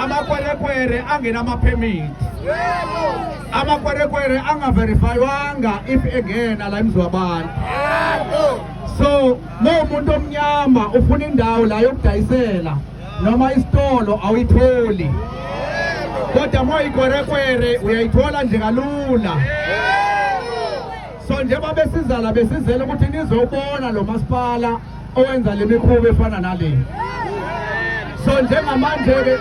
amakwerekwere angenamaphemithi amakwerekwere angaverifaywanga if engena la emzi wabantu so ma umuntu omnyama ufuna indawo la yokudayisela noma isitolo awuyitholi kodwa ma uyikwerekwere uyayithola nje kalula so njengoba besizala besizela ukuthi nizobona lo masipala owenza le mikhuba efana nale so njengamanje-ke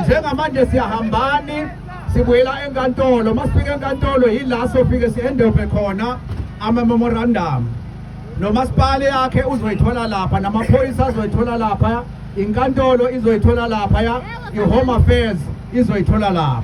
njengamanje siyahambani sibuyela enkantolo uma sifika enkantolo yila sofike si-endove khona ama-memorandum nomasipala yakhe uzoyithola lapha namaphoyisa azoyithola lapha inkantolo izoyithola lapha ya i-home affairs izoyithola lapha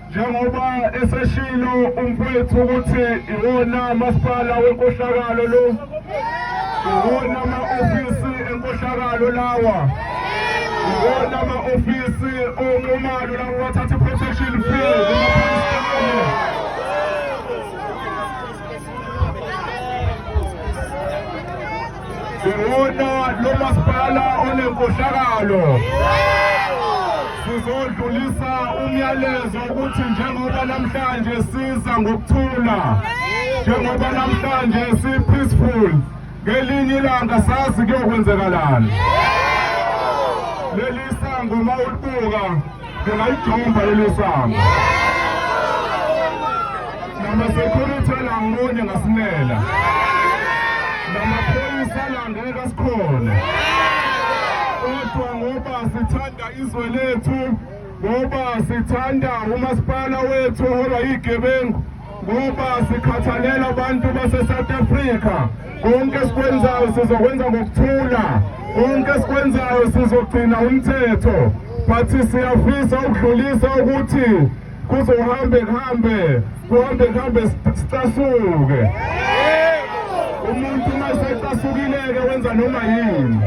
njengoba eseshilo umfowethu ukuthi iwona masipala wenkohlakalo lo iwona ma-ofisi enkohlakalo lawa iwona ma-ofisi onxumalo labo bathatha i-protection fee Siwona lo masipala onenkohlakalo. Sizodlulisa umyalezo ukuthi njengoba namhlanje siza ngokuthula. Njengoba namhlanje si peaceful. Ngelinye ilanga sazi kuyokwenzekalani. Leli sango mawulibuka Ngingayidumba leli sango. Namasecurity alangibone ngasimela. Namaphoyisa alangeke kasikhona. Kodwa ngoba sithanda izwe lethu ngoba sithanda umasipala wethu oholwa yigebengu ngoba sikhathalela abantu base-south africa konke esikwenzayo sizokwenza ngokuthula konke esikwenzayo sizogcina umthetho but siyafisa ukudlulisa ukuthi kuzohambe kuhambe kuhambe kuhambe sicasuke umuntu uma esecasukileke wenza noma yini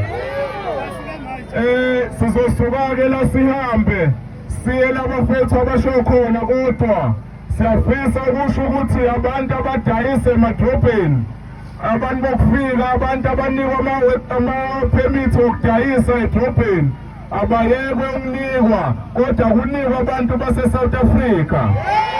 eh sizosuka-ke la sihambe siye labafethu abasho khona kodwa Siyafisa ukusho ukuthi abantu abadayisa emadrobheni abantu bokufika abantu abanikwa ama-permit okudayisa edrobheni abayekwe ukunikwa kodwa kunikwa abantu base-south africa yeah!